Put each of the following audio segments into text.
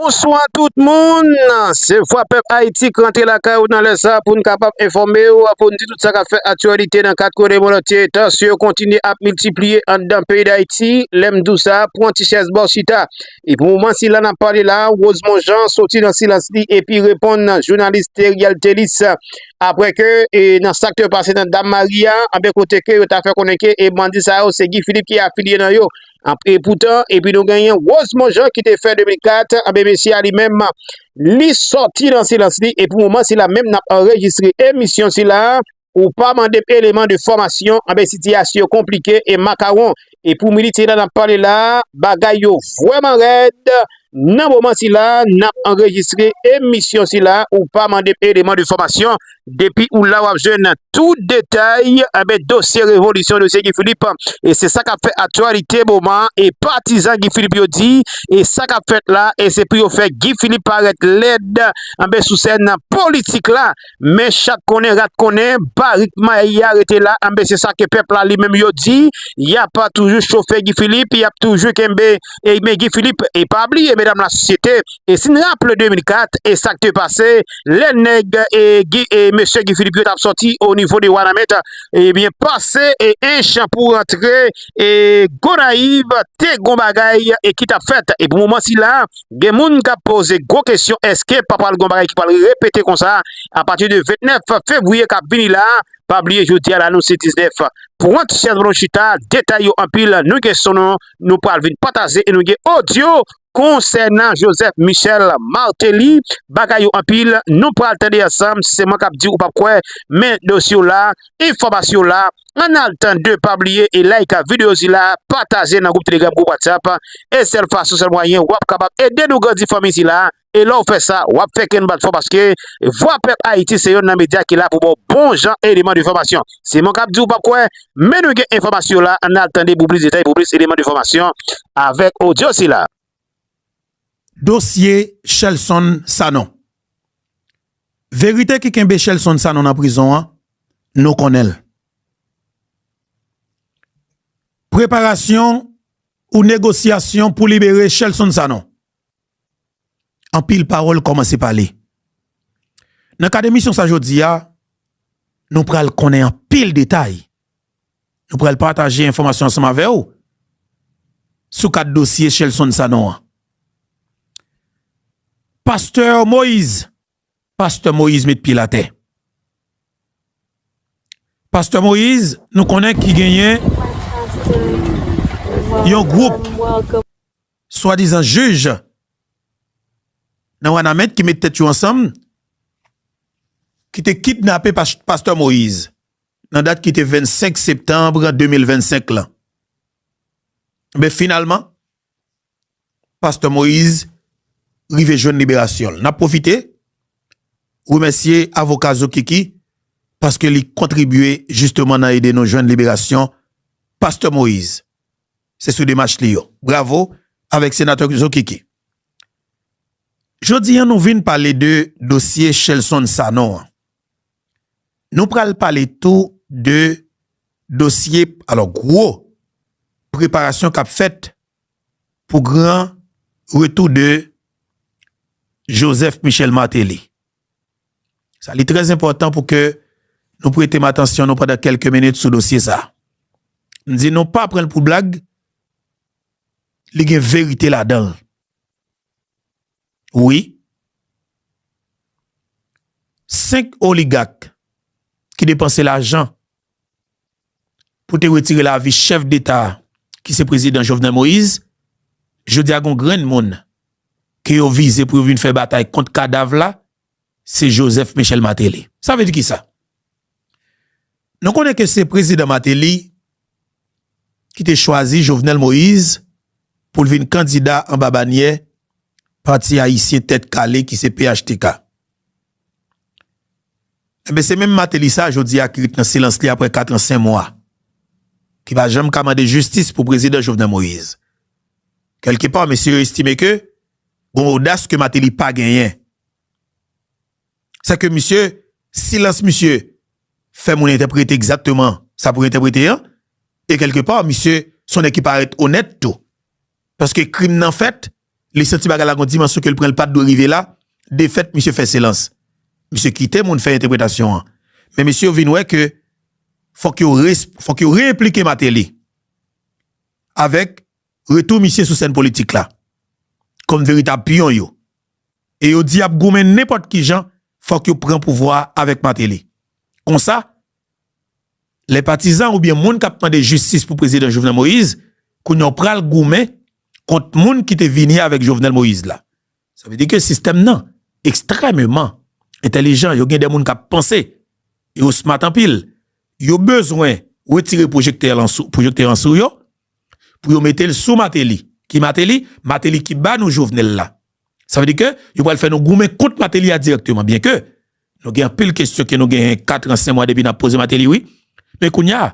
Bonswa tout moun, se Vwa Pèp Ayiti k rantre lakay ou nan lè sa pou n kapab enfòme w, pou n di tout sa k ap fè aktyalite nan kat kwen lemonn antye. Tansyon yo kontinye ap miltipliye anndan peyi Dayiti. Lè m di w sa, pran ti chèz ba w chita. E pou moman sila n ap pale la, Rosemond Jean soti nan silans li epi reponn jounalis Theriel Thélice aprè ke nan sa k te pase nan Dam Mari a, anben kote ke yo ta fè konnen ke bandi sa yo se Guy Philippe ki afilye nan yo. Anpre poutan, epi nou genyen Rosemond Jean ki te fè 2004, anbe mesye a li menm, li sòti nan silans li, e pou moman sila menm nap anrejistre emisyon sila, ou pa mandem eleman de fòmasyon, anbe sitiyasyon konplike e makawon, e pou minit sila nap pale la, bagay yo vwèman rèd, e. Nan moman sila nap anrejistre emisyon sila ou pa mandem eleman de fòmasyon depi ou la wap jwenn tout detay enben dosye revolisyon dosye Guy Philippe e se sa kap fè aktyalite moman e patizan Guy Philippe yo di e sa kap fèt la e se pou yo fè Guy Philippe parèt lèd enben sou sèn politik la. Men chat konnen rat konnen barik mayi ya rete la anben se sa ke pèp la li menm yo di yap toujou chofe Guy Philippe yap toujou kenbe men Guy Philippe e pa bliye medam la sosyete e sin raple 2004 e sak te pase lè nèg e Guy e mesye Guy Philippe yo tap soti o nivo de wanament ebyen pase e ench pou rantre e Gonaïves te gon bagay e ki tap fèt e pou moman sila. Gen moun kap poze gwo kesyon eske pa pral gon bagay ki pral repete konsa a pati de 29 fevriye kap vini la, pa bliye jodia la nou se 19 pwent syèz bon nou chita detay yo anpil nou gen son nou nou pral vin pataze e nou gen odyo konsènan Joseph Michel Martelly bagay yo anpil nou pral tande ansanm se mwen kap diw ou pap kwè men dosye w la Enfòmasyon la an al tande pa bliye e like video sila pataje nan group telegram group whatsapp e sèl fason sèl mwayen wap kapab ede nou grandi fanmi sila e lèw fè sa wap fè kèn bat fò paske vwa pèp ayiti se yonn nan medya ki la pou baw bon jan eleman de fòmasyon se mwen kap diw pap kwè men nou gen enfòmasyon la an al tande pou plis detay pou plis eleman de fòmasyon avèk odyo sila. Dosye Shelson Sanon Verite ki kenbe Shelson Sanon nan prizon an, nou konnen l. Preparasyon ou negosyasyon pou libere Shelson Sanon. Anpil pawòl kòmanse pale. Nan kad emisyon sa jodi a, nou pral konnen anpil detay Nou pral pataje enfòmasyon ansanm avè ou sou kat dosye Shelson Sanon an. Pastè Moïse, pastè Moïse met pye l atè. Pastè Moïse nou konnen ki genyen yon gwoup swadizan jij nan Wanament ki met tèt yo ansanm ki te kidnape pastè Moïse. nan dat ki te 25 septanb 2025 lan. Enben finalman, pastè Moïse rive jwenn liberasyon l. N ap pwofite remèsye avoka Zokiki paske li kontribye jisteman nan ede nou jwenn liberasyon pastè Moïse. Se sou demach li yo. Bravo avèk senatè Zokiki. Jodi an nou vin pale de dosye Shelson Sanon an. Nou pral pale tou de dosye alò gwo preparasyon kap fèt pou gran retou de Joseph Michel Martelly. Sa li trè enpòtan pou ke nou prete m atansyon nou pandan kèlke minit sou dosye sa. M di nou pa pran l pou blag, li gen verite ladan l. Wi. 5 oligak ki depanse lajan pou te retire lavi chèf deta ki se prezidan Jovenel Moise, jodi a gon grenn moun ke yo vize pou yo vin fè batay kont kadav la Se Joseph Michel Martelly. Sa vle di ki sa? Nou konnen ke se Prezidan Martelly ki te chwazi Jovenel Moïse pou l vin kandida anba banyè Pati Ayisyen Tèt Kale ki se phtk. Enben se menm Martelly sa jodi a ki ret nan silans li apre 4 an 5 mwa, ki pa janm ka mande jistis pou Prezidan Jovenel Moïse. Kèlke pa mesye yo estime ke Gon odas ke Mateli pa genyen. Sè ke misye, silans misye fè moun entèprete egzatteman sa pou yo entèprete an. E kèlke pa, misye son nèg ki parèt onèt tou. Paske krim nan fèt, li santi bagay la gon dimansyon ke li pran li pat dwe rive la, defèt misye fè silans. Misye kite moun fè entèpretasyon an. Men mesye yo vin wè ke fòk yo re-esp, fòk yo re-enplike Mateli avèk Retou misye sou sèn politik la kòm veritab pyon yo e yo di yap goumen nenpòt kijan fòk yo pran pouvwa a avèk Martelly. Konsa, lè patizan oubyen moun kap mande jistis pou Prezidan Jovenel Moïse, kounya w pral goumen kont moun ki te vini avèk Jovenel Moïse la. Sa vle di ke sistèm nan ekstrèmeman entèlijan, yo gen de moun k ap panse, yo smat anpil, yo bezwen wetire pwojektè lan sou, pwojektè an sou yo, pou yo mete l sou Mateli. Ki Mateli? Mateli ki ba nou Jovenel la. Sa vle di ke yo pral fè nou goumen kont Mateli a dirèkteman, byen ke nou gen anpil kesyon ke nou genyen katran sen mwa depi n ap poze Mateli wi, men kounya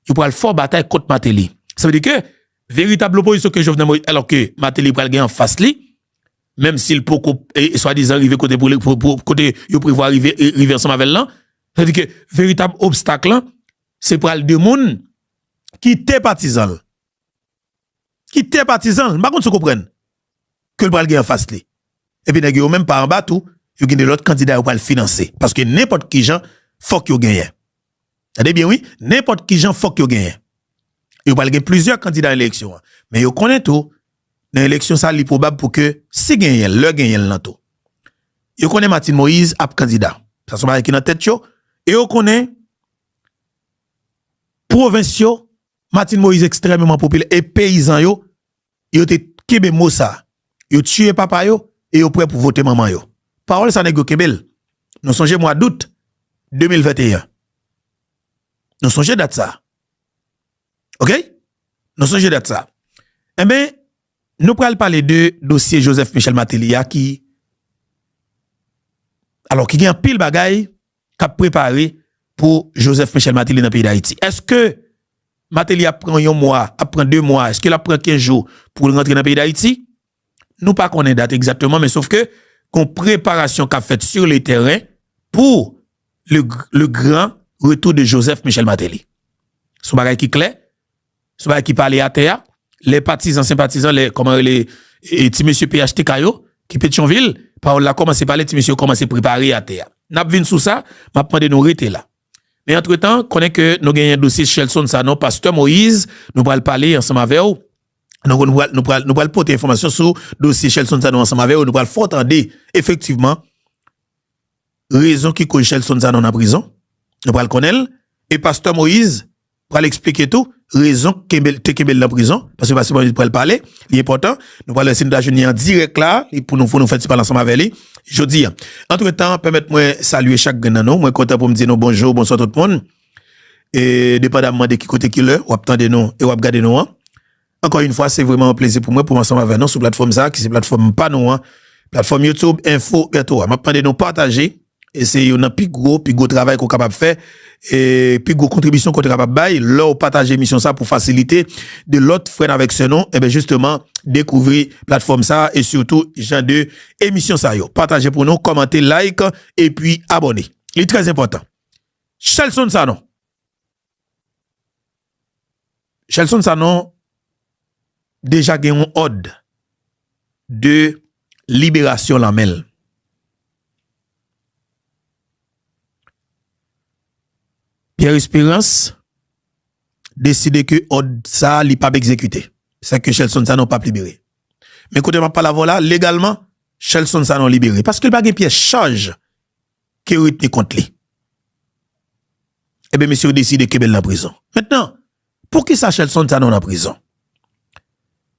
yo pral fè w batay kont Mateli. Sa vle di ke Veritab lopozisyon ke Jovenel Moïse alò ke Martelly pral gen anfas li, menm si l poko swadizan rive kote pou l, kote yo prevwa rive, rive ansanm avè l lan. Sa vle di ke veritab obstak lan se pral 2 moun ki te patizan l, ki te patizan l, m pa konn si w konprann. ke l pral gen anfas li. Epi nèg yo yo menm pa anba tou, yo gen de lòt kandida yo pral finanse. Paske nenpòt kijan fòk yo genyen. Tande byen wi, nenpòt kijan fòk yo genyen. Yo pral gen plizyè kandida nan eleksyon an. Men yo konnen tou, nan eleksyon sa li pwobab pou ke si genyen l, lè genyen l lan tou. Yo konnen Martine Moïse ap kandida. Sa son bagay ki nan tèt yo. E yo konnen pwovens yo, Martine Moïse ekstrèmeman popilè e peyizan yo yo te kenbe mo sa, yo tiye papa yo e yo prè pou vote manman yo. Pawòl sa nèg yo kenbe l. Nou sonje mwa dout 2021. Nou sonje dat sa. Ok? Nou sonje dat sa. Enben, nou pral pale de dosye Joseph Michel Martelly a ki alò ki gen anpil bagay. k ap prepare pou Joseph Michel Martelly nan peyi Dayiti. Eske Martelly ap pran yon mwa, ap pran 2 mwa, eske l ap pran 15 jou pou l rantre nan peyi Dayiti? Nou pa konnen dat egzakteman men sofke gon preparasyon k ap fèt sur le tèren pou le gran retou de Joseph Michel Martelly. Son bagay ki klè. Sou bagay ki pale atè a, lè patizan, senpatizan, lè kòman rele ti mesye phtk yo ki Petyonvil, pawòl la kòmanse pale, ti mesye yo kòmanse prepare atè a. N ap vin sou sa, m ap mande nou rete la. Men antretan, konnen ke nou genyen dosye Shelson Sanon, pastè Moïse, nou pral pale ansanm avè w, nou pral pote enfòmasyon sou dosye Shelson Sanon ansanm avè w, nou pral fè w tande efektivman rezon ki koz Shelson Sanon nan prizon, nou pral konnen l, e pastè Moïse, pral eksplike tou rezon ki kenbe l te kenbe l nan prizon paske pa Sibomana li pral pale li enpòtan nou pral wè si nou ta jwenn li an dirèk la li pou nou pou nou fè ti pale ansanm avè li jodi a antretan pèmèt mwen salye chak grenn nan nou mwen kontan pou m di nou bonjou bonswa tout moun e depandamman de ki kote ki lè w ap tande nou e w ap gade nou an. Ankò yn fwa se vreman yon plezi pou mwen poum ansanm avè nou sou platfòm sa ki se platfòm pa nou an platfòm YouTube info Bertho a map mande nou pataje e se yon nan pi gwo pi gwo travay ke w kapab fè e pi gwo kontribisyon ke w te kapab bay lè w pataje emisyon sa pou fasilite de lòt frè n avèk sè nou enben jisteman dekouvri platfòm sa e sitou jan de emisyon sa yo pataje pou nou kòmante like epi abòne li trèzenpòtan Shelson Sanon. Shelson Sanon deja gen yon òd de liberasyon lan men l. Pierre Esperance deside ke òd sa li pap egzekite. Sa ke Shelson Sanon pap libere. Men kote map pale avè w la, legalman Shelson Sanon libere. Paske l pa gen pyès chaj ke yo retni kont li. Ebyen mesye yo deside kenbe l nan prizon. Mentnan, poukisa Shelson Sanon nan prizon?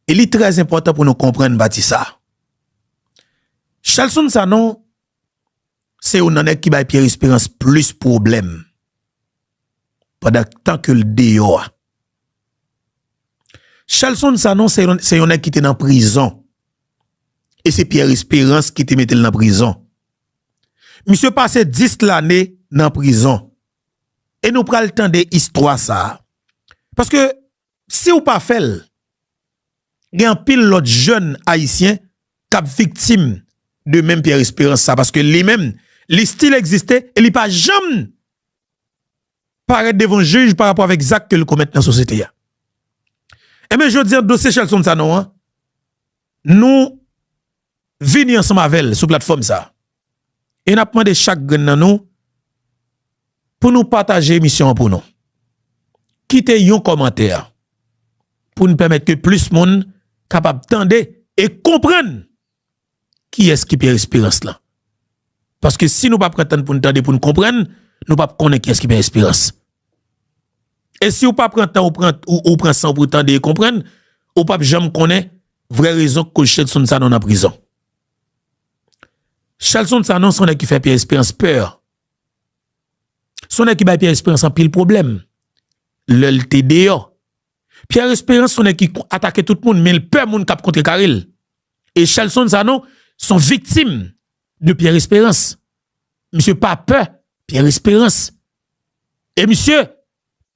E li trè enpòtan pou nou konprann pati sa a. Shelson Sanon se youn nan nèg ki bay Pierre Espérance plis pwoblèm pandan tan ke l deyò a. Shelson Sanon se yon nèg ki te nan prizon e se Pierre Espérance ki te mete l nan prizon. Misye pase 10 lane nan prizon. E nou pral tande istwa sa. Paske siw pa fèl gen anpil lòt jèn ayisyen kap viktim de menm Pierre Esperance sa paske li menm li stil egziste e li pa janm parèt devan jij pa rapò avèk zak kel komèt nan sosyete a. Enben jodi an dosye Shelson Sanon an Nou vini ansanm avè l sou platfòm sa a e n ap mande chak grenn nan nou pou nou pataje emisyon an pou nou. Kite yon kòmantè pou n pèmèt ke plis moun kapab tande e konprann kiyès ki Pierre Espérance lan. Paske si nou pa pran tan pou n tande, pou n konprann, nou pap konnen kiyès ki Pierre Espérance. E si ou pa pran tan ou pran san w pou w tande e konprann, ou pap janm konnen vrè rezon k koz Shelson Sanon nan prizon. Shelson Sanon se yon nèg ki fè Pierre Esperance pè. Se yon nèg ki bay Pierre Esperance anpil pwoblèm lè l te deyò. Pierre Esperance se yon nèg ki atake tout moun men l pè moun k ap kontrekare l. E Shelson Sanon se yon viktim de Pierre Esperance. Misye pa pè Pierre Esperance. E misye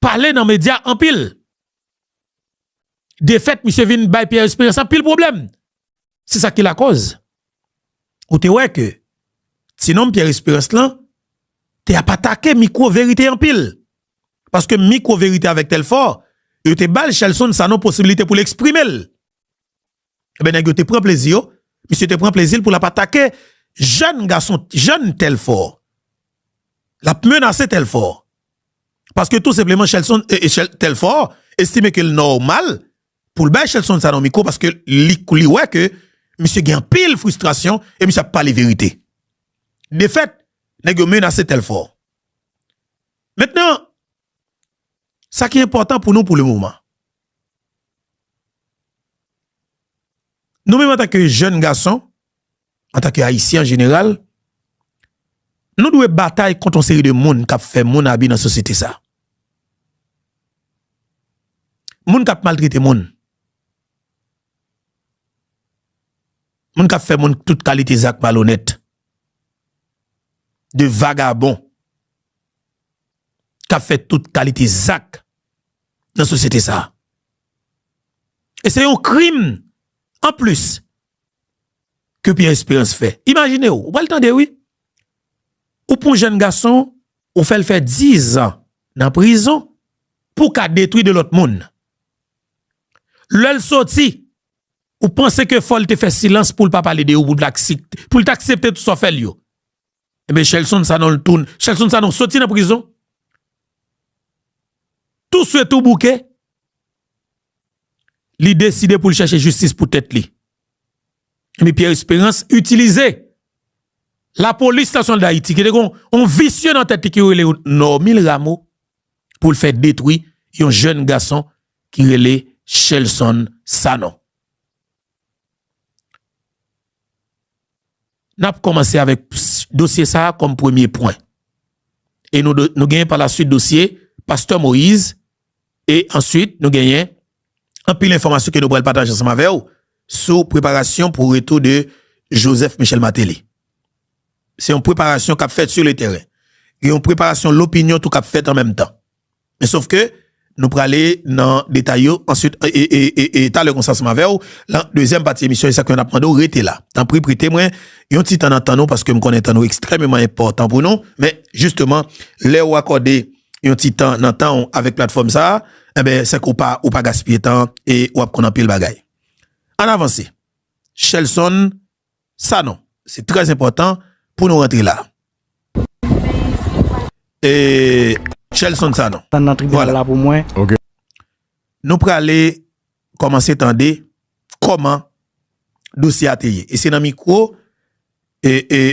pale nan media anpil. De fèt misye vin bay Pierre Espérance anpil pwoblèm. Se sa ki lakoz ou te wè ke ti nonm Pierre Espérance lan te ap atake mikwo verite anpil. Paske mikwo verite avèk Telfort yo te bal Shelson Sanon posibilite pou l eksprime l. Ebyen nèg yo te pran plezi yo, misye te pran plezi l pou l ap atake jèn gason, jèn Telfò. L ap menase Telfò. Paske tou senpleman Shelson, Telfò estime ke l nòmal pou l bay Shelson sa nan mikwo paske li wè ke misye gen anpil fristrasyon e misye ap pale verite. Defèt, nèg yo menase Telfò. Mentnan, Sa ki enpòtan pou nou pou le moman. Nou menm antanke jèn gason, antanke Ayisyen an jeneral, nou dwe batay kont yon seri de moun k ap fè moun abi nan sosyete sa a. Moun k ap maltrete moun. Moun k ap fè moun tout kalite zak malonèt. De vagabon. k ap fè tout kalite zak nan sosyete sa a. E se yon krim an plis ke Pierre Espérance fè. Imajine w, ou pral tande wi, ou pran yon jenn gason, ou fè l fè dizan nan prizon pou w ka detwi de lòt moun. Lè l soti, ou panse ke fò l te fè silans pou l pa pale de yo, pou l ta aksepte tout sa w fè l yo. Ebyen Shelson Sanon l tounen. Shelson Sanon soti nan prizon. Tou swe tou bouke. Li deside pou l chache jistis pou tèt li. Ebyen Pierre Esperance itilize. La polis nasyon da iti. Ki de kon on visye nan tèt li ki rele Normil Rameau. Pou l fè detwi yon jèn gason ki rele Shelson Sanon. N ap kòmanse avèk dosye sa a kòm premye pwen. E nou genyen pa la suit dosye pastè Moïse e answit nou genyen anpil enfòmasyon ke nou pral pataje ansanm avè w sou preparasyon pou retou de Joseph Michel Martelly. Se yon preparasyon k ap fèt sou le tèren. Gen yon preparasyon lopinyon tou k ap fèt an menm tan. Men sof ke nou prale nan detay yo answit e talè konsa ansanm avèw lan dezyèm pati emisyon e sak fè nap mandew rete la. Tanpri prete mwen yon ti tan nan tan nou paske m konnen tan nou ekstrèmeman enpòtan pou nou men jisteman lèw akòde yon ti tan nan tanw avèk platfòm sa enben sèke ou pa ou pa gaspiye tan e wap konn anpil bagay. Ann avanse Shelson Sanon, Se trè enpòtan pou nou rantre la. Shelson Sanon, Vwala. Nou prale kòmanse tande kòman dosye a te ye. E se nan mikwo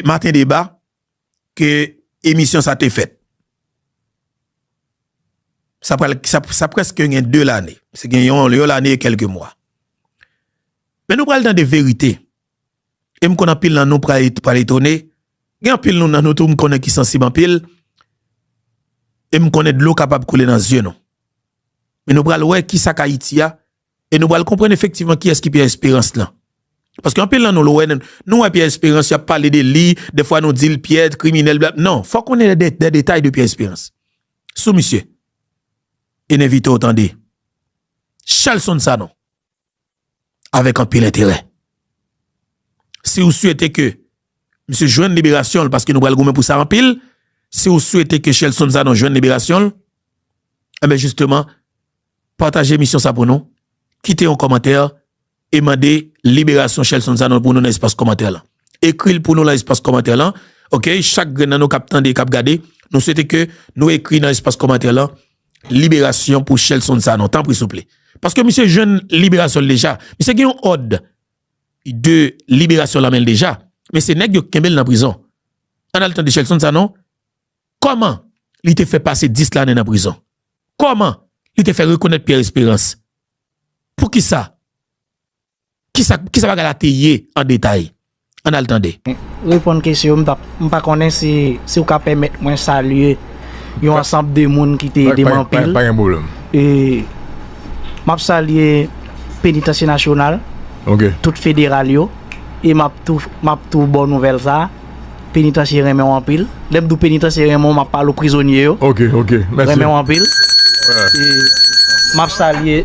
Maten deba ke emisyon sa te fèt. Sa pral, sa preske gen 2 lane. Se gen yon lane e kelke mwa. Men nou pral tande verite. E m konnen anpil nan nou pral etone. Gen anpil nou nan nou tou m konnen ki sansib anpil. E m konnen dlo kapab koule nan zye nou. Men nou pral wè ki sa k Ayiti a, E nou pral konprann efektivman kiyès ki Pierre Espérance lan. Paske anpil nan nou lè w wè n, nou wè Pierre Espérance y ap pale de li, dèfwa nou di l Pierre kriminèl bla, non, fò w konnen dè detay de Pierre Espérance sou misye. E n envite w tande Shelson Sanon avèk anpil enterè. Si w swete ke misye jwenn liberasyon l, paske nou pral goumen pou sa anpil, si w swete ke Shelson Sanon jwenn liberasyon l, enben jisteman, Pataje emisyon sa pou nou, kite yon kòmantè e mande liberasyon Shelson Sanon pou nou nan espas kòmantè lan. Ekri l pou nou lan espas kòmantè lan ok chak grenn nan nou kap tande e kap gade nou swete ke nou ekri nan espas kòmantè lan liberasyon pou Shelson Sanon tanpri souple paske misye jwenn liberasyon l deja misye gen yon òd de liberasyon lan men l deja men se nèg yo k kenbe l nan prizon an al tande Shelson Sanon Kòman li te fè pase 10 lane nan prizon? Kòman li te fè rekonèt Pierre Espérance? Poukisa? Kisa kisa bagay la te ye an detay? Ann al tande. Reponn kesyon yo, m tap m pa konnen si si ou ka pèmèt mwen salye yon ansanb de moun ki te ede m anpil. Pa gen pwoblèm. E map salye Penitansye Nasyonal, tout federal yo e map tou map tou ba w nouvèl sa. Penitansye renmen w anpil. Lè m di w penitansye renmen w, m ap pale w prizonye yo. Ok, ok. Mèsi. Renmen w anpil. E m ap salye.